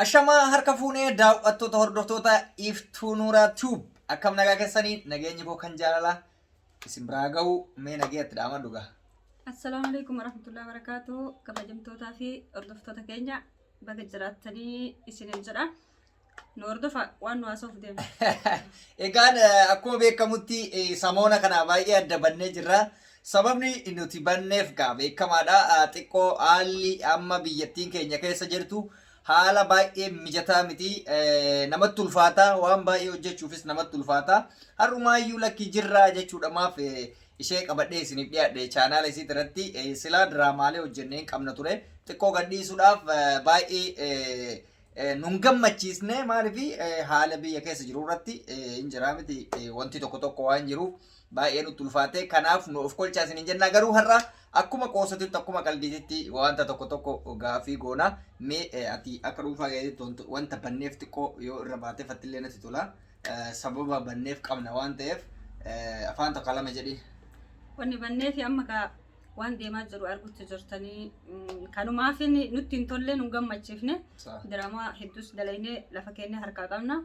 Ashamaa harka fuunee daawwattoota hordoftoota Iftuu Nuuraa Tube akkam nagaa keessanii nageenyi koo kan jaalalaa isin biraa ga'u mee nagee itti dhaama dhugaa. Assalaamu alaikum warahmatullahi wabarakatuh kabajamtootaa fi hordoftoota keenya baga jiraattanii isiniin jedha nu hordofa waan nu haasoof deema. Egaan eh, akkuma beekamutti eh, samoona kana baay'ee adda bannee jirra. Sababni nuti banneef egaa beekamaadha. Xiqqoo haalli amma biyyattiin keenya keessa jirtu haala baay'ee mijataa miti. Namatti ulfaata. Waan baay'ee hojjechuufis namatti ulfaata. Har'umaayyuu lakki jirraa jechuudha maaf ishee qabadhee isiniif dhiyaadhe chaanaala isiit irratti silaa diraamaalee hojjennee hin qabna ture. Xiqqoo gadhiisuudhaaf baay'ee nun gammachiisne maaliif haala biyya keessa jiru irratti hin jiraa miti wanti tokko tokko waan jiruuf. baay'ee nutti ulfaate kanaaf nu of kolchaa isiniin jennaa garuu har'a akkuma qoosatitti akkuma qaldiititti wanta tokko tokko gaafii goona mee eh, ati akka dhuunfaa keessatti wanta- wanta banneef xiqqoo yoo irra baatee fattillee natti tola Eh, sababa banneef qabna waan ta'eef eh, afaan tokko lama jedhi Wanni bannee fi amma kaa waan deemaa jiru argutti jirtanii kanumaaf nutti hin tolle nu gammachiifne diraamaa hedduus dalaynee lafa keenya harkaa qabna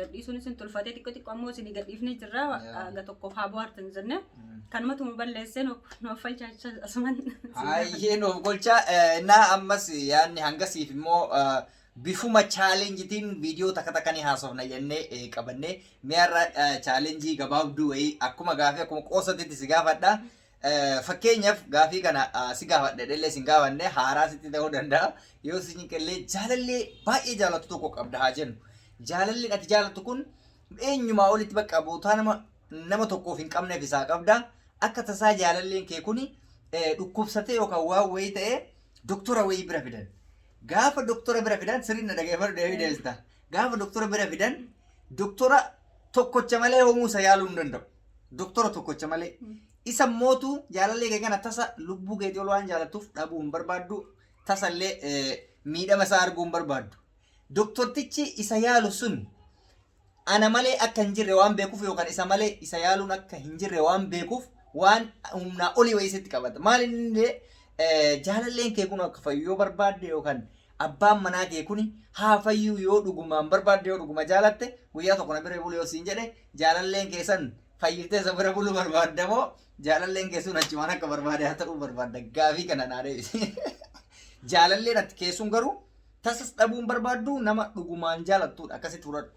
gadhiisuun isin tulfatee xiqqoo xiqqoo ammoo isin gadhiifnee jirra aga tokkoof haa bohaartan jenne kanumatu nu balleessee nuuf falchaachaa asuman. Hayyee nuuf golchaa innaa ammas yaadni hangasiif immoo bifuma chaalenjitiin viidiyoo takka takka ni haasofna jennee qabannee mi'arra chaalenjii gabaabduu wayii akkuma gaafii akkuma qoosatitti si gaafadha. Fakkeenyaf gaafii kana si gaafadhe dhellee sin gaafanne haaraa sitti ta'uu danda'a. Yoo si cinqellee jaalallee baay'ee jaalattu tokko qabda haa jennu. Jaalalleen ati jaalattu kun eenyumaa olitti bakka bootaa nama nama tokkoof hin qabneef isaa qabda. Akka tasaa jaalalleen kee kuni dhukkubsatee yookaan waan wayii ta'ee doktora wayii bira fidan. Gaafa doktora bira fidan sirriin na dhaggeeffadhu deebii deebista. Gaafa doktora bira fidan doktora tokkocha malee homuusa yaaluu hin danda'u. doktora tokkocha malee isa mootu jaalallee kee kana tasa lubbuu keetii ol waan jaalattuuf dhabuu hin barbaaddu tasallee eh, miidhama isaa arguu hin barbaaddu doktortichi isa yaalu sun ana malee akka hin jirre waan beekuuf yookaan isa malee isa yaaluun akka hin jirre waan beekuuf waan humnaa olii wayii sitti qabata. Maal inni illee eh, jaalalleen kee kun akka fayyu yoo barbaadde yookaan Abbaan manaa kee kuni haa fayyuu yoo dhugumaan barbaadde yoo dhuguma jaalatte guyyaa tokko na bira bulu yoo siin jedhe jaalalleen kee san fayyitee isa bira buluu barbaadda moo jaalalleen kee sun achumaan akka barbaade haa ta'uu barbaadda gaafii kana naa deebisi. Jaalalleen ati kee sun garuu tasas dhabuun barbaaddu nama dhugumaan jaalattuudha akkasitti fudhadhu.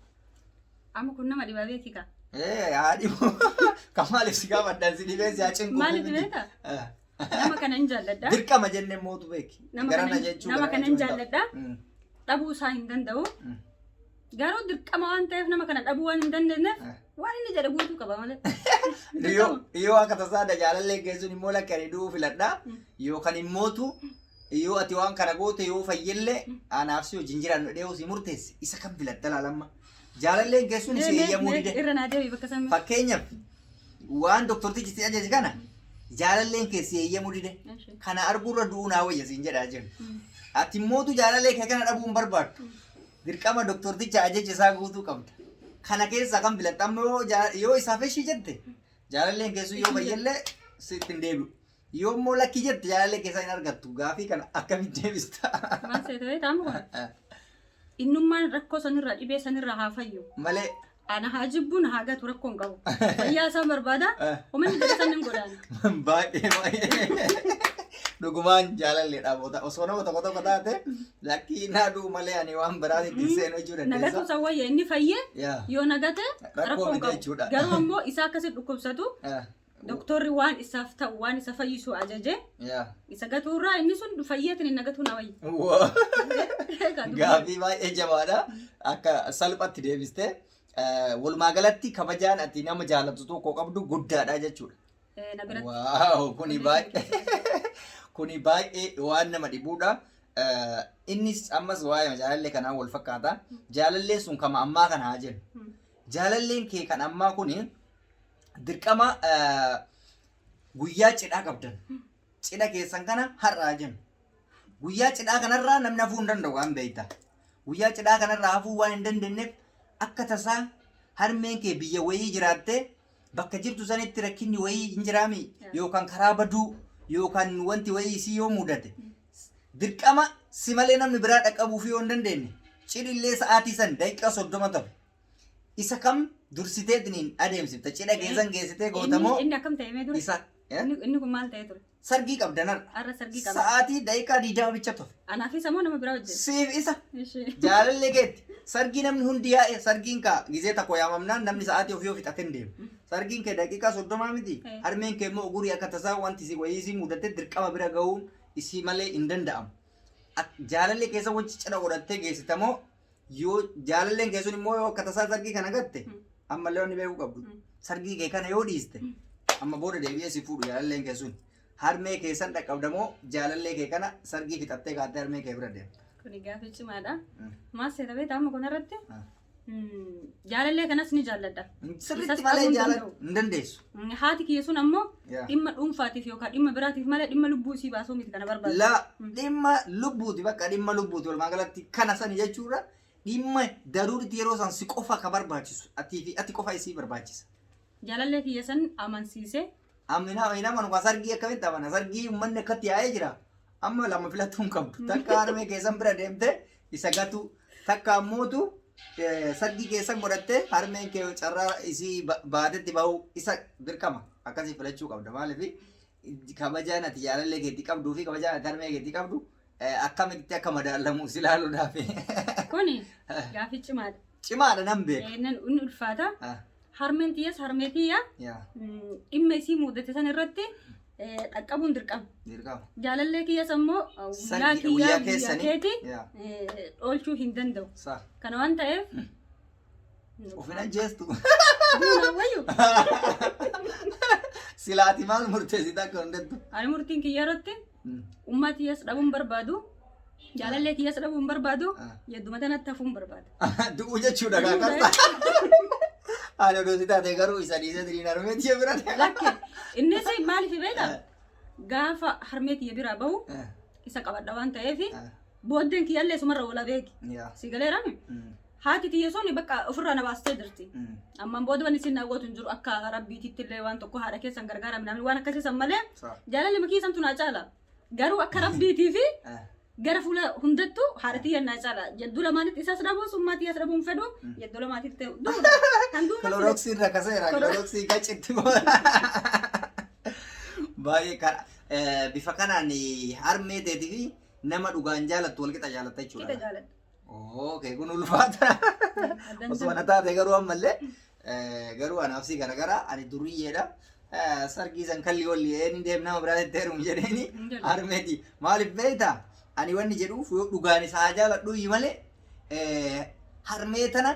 Amma kun nama dhibaa beekika. Ee haa dhibu. Kan maaliif si gaafadhan si dhibee si haa cinquu. Maaliif beekta? Nama kana hin jaalladha. Dirqama jenne mootu beeki. Nama Gara kana na hin- jechuu nama gara kana hin jechuu hin jaalladha. ta'u. Mm. Dhabuu isaa hin danda'u. Mm. Garuu dirqama waan ta'eef nama kana dhabuu waan hin dandeenyeef Ah. waan inni jedhe guutuu qaba malee. Yoo yoo akka tasaa da jaalallee geessuun immoo lakkanii du'uu filadha. Mm. Yookaan immootu Yoo ati waan kana goote yoo fayyellee anaaf si wajjin jiraannu jedhee yoo si murteesse isa kan filatta laalamma. Jaalalleen keessuun si eeyyamuu dide. Irra naa deebi bakka sammi. Fakkeenyaaf waan doktortichi si ajaje kana jaalalleen kee si eeyyamuu dide. Kana arguurra du'uu naa wayya siin jedhaa jiru. Ati mootu jaalallee kee kana dhabuu hin barbaaddu. Dirqama doktorticha ajaja isaa guutuu qabda. Kana keessaa kan filatta amma yoo jaa- yoo isaaf ishii jette jaalalleen keessuu yoo fayyellee sitti hin deebi'u. Yoo immoo lakkii jette jaalallee keessaa hin argattu. Gaafii kana akkamitti deebista? Maal seeta beektaa amma kun? Innummaan rakkoo sanirraa dhibee sanirraa haa fayyu. Malee. Ana haa jibbu na haa gatu rakkoo hin qabu. Fayyaa isaa barbaada. Uummanni gadi san hin godhaani. Baay'ee baay'ee. Dhugumaan jaalalleedha boota. Osoo nama tokko tokko taate lakkii naa du'u malee ani waan biraatti itti hin seenu jechuu Nagatu dandeessa. isa wayya inni fayyee Yaa. yoo nagate Rakkoo rakkoo hin miti qabu. jechuudha. Garuu ammoo isaa akkasitti dhukkubsatu Ah, Doktorri waan isaaf ta'u waan isa fayyisu ajaje Yaa. isa gatuurraa inni sun fayyeetiin inni gatuu na wayya. Gaaffii baay'ee jabaadha. Akka salphatti deebistee eh, walumaa galatti kabajaan ati nama jaalatu tokko qabdu guddaadha jechuudha. Eh, Na biratti. Waaw kuni baay'ee kuni baay'ee waan nama dhibuudha. Eh, Innis ammas waa'ee jaalallee kanaa wal fakkaata. Jaalalleen sun kama ammaa kana haa jennu. Mm. Jaalalleen kee kan ammaa kuni dirqama eh, guyyaa cidhaa qabdan cidha keessan kana har'aa jennu guyyaa cidhaa kanarraa namni hafuu hin danda'u waan beekta guyyaa cidhaa kanarraa hafuu waan hin dandeenyeef akka tasaa harmeen kee biyya wayii jiraattee bakka jirtu sanitti rakkinni wayii hin jiraami yookaan karaa baduu yookaan wanti wayii isii yoo mudate dirqama si malee namni biraa dhaqqabuuf yoo hin dandeenye cidhillee sa'aatii san daqiiqaa soddoma tafe Isa kam dursiteetiniin adeemsifta? Cidha keessan geessitee Inni gootamoo inni akkam ta'e mee dura? isa eh? Inni inni kun maal ta'e ture? sargii qabdan har'a. Har'a sargii qaba. Sa'aatii daqiiqaa digdama bicha tufe. Anaaf isa moo nama biraa wajjin? Siif isa Ishee. jaalallee keetti. Sargii namni hundi yaa'e sargiin kaa gizee takko yaamamnaan namni sa'aatii ofii ofii xatin deema. Sargiin kee daqiiqaa soddomaa miti. Eh. Harmeen kee immoo ugurii akka tasaa wanti si wayii si mudate dirqama bira ga'uun isii malee hin danda'amu. Ak- Jaalallee keessa wajji cidha godhattee geessitamoo Yoo jaalalleen kee sun immoo yoo akka tasaa sargii kana gatte Mm. ammallee wanni beekuu qabdu Mm. sargii kee kana yoo dhiiste Mm. amma booda deebi'ee si fuudhu jaalalleen kee sun harmee kee san dhaqqabda moo jaalallee kee kana sargii fixattee kaattee harmee kee bira deemta. Kuni gaaffii cimaadha. Mm. Maal seeta beektaa amma kanarratti? Ah. Mm, Jaalallee kanas ni jaalladha. Sirriitti Isas malee qabuu hin jaalatu danda'u. hin dandeessu. Mm, Haati kiyya sun ammoo Yaa. Dhimma dhuunfaatiif yookaan dhimma biraatiif malee dhimma lubbuu isii baasuu miti kana barbaadu. La dhimma lubbuuti bakka dhimma lubbuuti walumaa galatti kana sani jechuudha. Dhimma daruuritti yeroo san si qofa ka barbaachisu atii fi ati qofa isii barbaachisa. Jaalallee kiyya san amansiisee Amina hin amanu kan sargii akkamitti amana sargii uummanni akkatti yaa'ee jira. Amma lama filatuu hin qabdu. Takka harmee keessan bira deemtee isa gatuu. Takka ammootu eh, sargii keessan godhattee harmeen kee carraa isii ba- baatetti bahuu isa dirqama. Akkasii filachuu qabda maaliif kabajaan ati jaalallee keetti qabduu fi kabajaan ati harmee keetti qabdu eh, akkamitti akka madaallamu si ilaaluudhaaf. Kuni gaafii cimaadha. Cimaadha nan beeka. Eh, Nan inni ulfaata. Ah, Harmeen tiyyas harmee tiyya Yaa. mm, dhimma isii muudate san irratti eh, dhaqqabuun dirqama. Dirqama. Jaalallee kiyyas ammoo eh, guyyaa Sargi- kiyyaa guyyaa guyyaa keessanii. keeti Yaa. eh, dhoolchuu hin danda'u. Sa. Kana waan ta'eef Ofin ajjeestu. duuna wayyu Silaati maal murteessita akka hundatti. ani murtiin kiyya irratti Ummaa tiyyaas dhabuun barbaadu. Jaalallee tiyyaas dhabuun barbaadu. Ah. Yadduma tanatti hafuun barbaada. Du'u jechuudha kaa qarsa. Ani oduu si taate garuu isa dhiisee diriin harmee tiyya bira deema. Lakke innis maaliif beekta? Gaafa harmee tiyya biraa bahu isa qabadha waan ta'eef booddeen kiyyallee sumarra wala beeki. Yaa. Si galeerame? Mm. Haati tiyya sun bakka ofirraa na baastee jirti. Ammaan booda wanni isin gootu hin jiru akka rabbiititti illee waan tokko haadha keessan gargaara midhaan waan akkasii san malee Sawa. jaalalli makii santu naa caala. Garuu akka rabbiitii fi Eh. gara fuula hundattuu haadha tiyya naa caala. Yadduu lamaanitti isas dhabuu summaa tiyyas dhabuu hin fedhu. Yadduu lamaatitti duudha. Kan duudha. Kiloroksiin rakkaseera. Kiloroksii gacitti Baay'ee kan eh, bifa kanaan harmee teetii fi nama dhugaan jaalattu walqixa jaalatta Qixa jechuudha. jaaladha. Okay, kun ulfaata. Osoo ana taate garuu ammallee garuu anaaf si garagara ani duriyyeedha. Sargii san kalli walli eeni deem nama biraa itti heerumu jedheeni harmeeti. Maaliif beekta? Ani wanni jedhuuf yoo dhugaan isaa jaaladhu malee harmee tana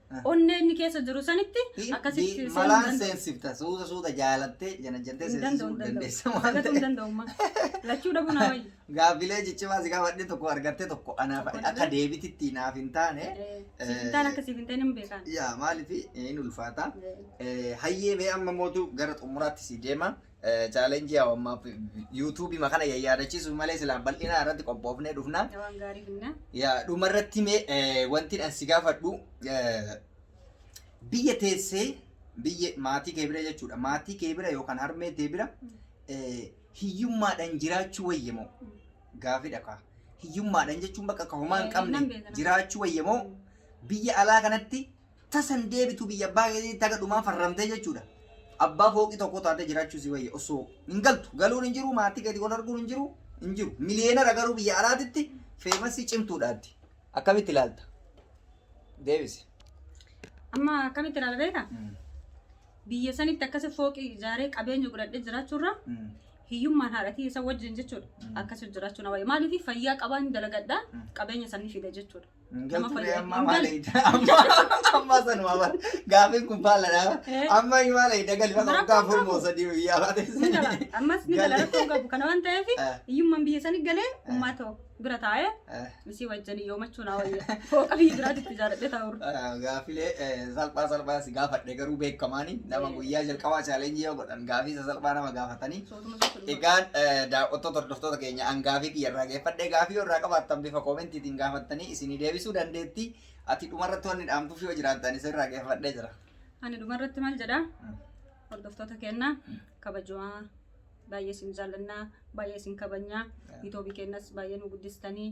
onnee inni keessa jiru sanitti akkasitti seenuu malaan danda'u. seensifta suuta suuta jaalattee janajjattee Hin danda'u, seensisuu hin danda'u. dandeessa waan Argatuu hin ta'eef danda'u amma. Lachuu dhabuu naa wayya. gaaffilee ciccimaa si gaafadhe tokko argattee tokko anaaf Tokko akka dhabee. deebititti naaf hin taane Sifintaan akkasiif hin ta'in hin beekaan. yaa maaliif hin ulfaata Eh, hayyee mee amma mootu gara xumuraatti si deema chaalenjii haa ammaa yuutuubii makana yayyaadachiisuuf malee silaa bal'inaa irratti qophoofnee dhufna. Waan gaarii finna. Yaa dhuma irratti mee wanti an si gaafadhu biyya teessee biyya maatii kee bira jechuudha maatii kee bira yookaan harmee tee bira hiyyummaadhaan jiraachuu wayya moo gaafidha kaa hiyyummaadhaan jechuun bakka kahumaa hin qabne jiraachuu wayya moo biyya alaa kanatti Tasa hin deebitu biyya abbaa keetiitti haga dhumaa farramtee jechuudha. Abbaa fooqii tokko taatee jiraachuu si wayya osoo hin galtu. Galuun hin jiru, maatii keetii wal arguun hin jiru, hin jiru. Miliyeenara garuu biyya alaatitti feemasii cimtuudhaatti. Akkamitti ilaalta? Deebisi. Amma akkamitti ilaala beektaa? Biyya sanitti akkasi fooqii ijaaree qabeenya godhadhee jiraachuurra hiyyummaan haadhatii isa wajjin jechuudha. Akkasi jiraachuu na wayya. Maaliif fayyaa qabaan dalagadhaa qabeenya sanii fida jechuudha. Nama fayyada. Amma sanuma bar. Gaafiin kun faalladha. Amma maal eegda galii bakka bakka afur moo sadii biyyaa baate. Ni gala. Ammas ni gala rakkoo hin qabu. Kana waan ta'eef hiyyummaan biyya sanii galee uummata ta'u bira taa'ee isii wajjin yoomachuu naa wayya. Fooqa biyya biraatti itti jaaladhee taa'u. Gaafilee salphaa salphaa si gaafadhe garuu beekamaani nama guyyaa jalqabaa chaalenjii yoo godhan gaafii isa salphaa nama gaafatanii. Egaan daawwattoota hordoftoota keenya angaafii kiyya irraa geeffadhe gaafii yoo irraa qabaattan bifa koomentiitiin gaafattanii isinii deebisuu dandeetti. Ati dhumarratti wanni dhaamtuuf yoo jiraattan isin irraa geeffadhee jira. Ani dhumarratti maal jedha? Hordoftoota keenya kabajamaa baay'ee isin jaallannaa baay'ee isin kabajnaa yuutuubii keenyas baay'ee nu guddistanii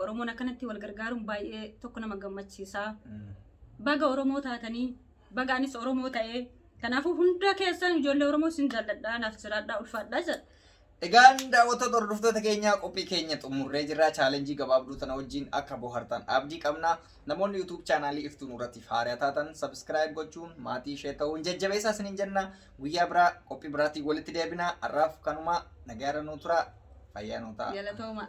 Oromoon akkanatti wal gargaaruun baay'ee tokko nama gammachiisa. Baga Oromoo taatanii baga anis Oromoo ta'ee. Kanaafuu hunda keessan ijoollee Oromoo sin jaalladha naaf jiraadha ulfaadha jedha. Egaan daawwattoota hordoftoota keenyaa qophii keenya xumurree jirra. Chaalenjii gabaabduu tana wajjin akka bohartan abdii qabna. Namoonni YouTube chaanaalii iftuu nurratti haaraa taatan subscribe gochuun maatii ishee ta'uun jajjabeessaa isiniin jenna. Guyyaa biraa qophii biraatiin walitti deebina. Har'aaf kanuma nagaarra nuu tura. Fayyaa nuu ta'a. Galatooma.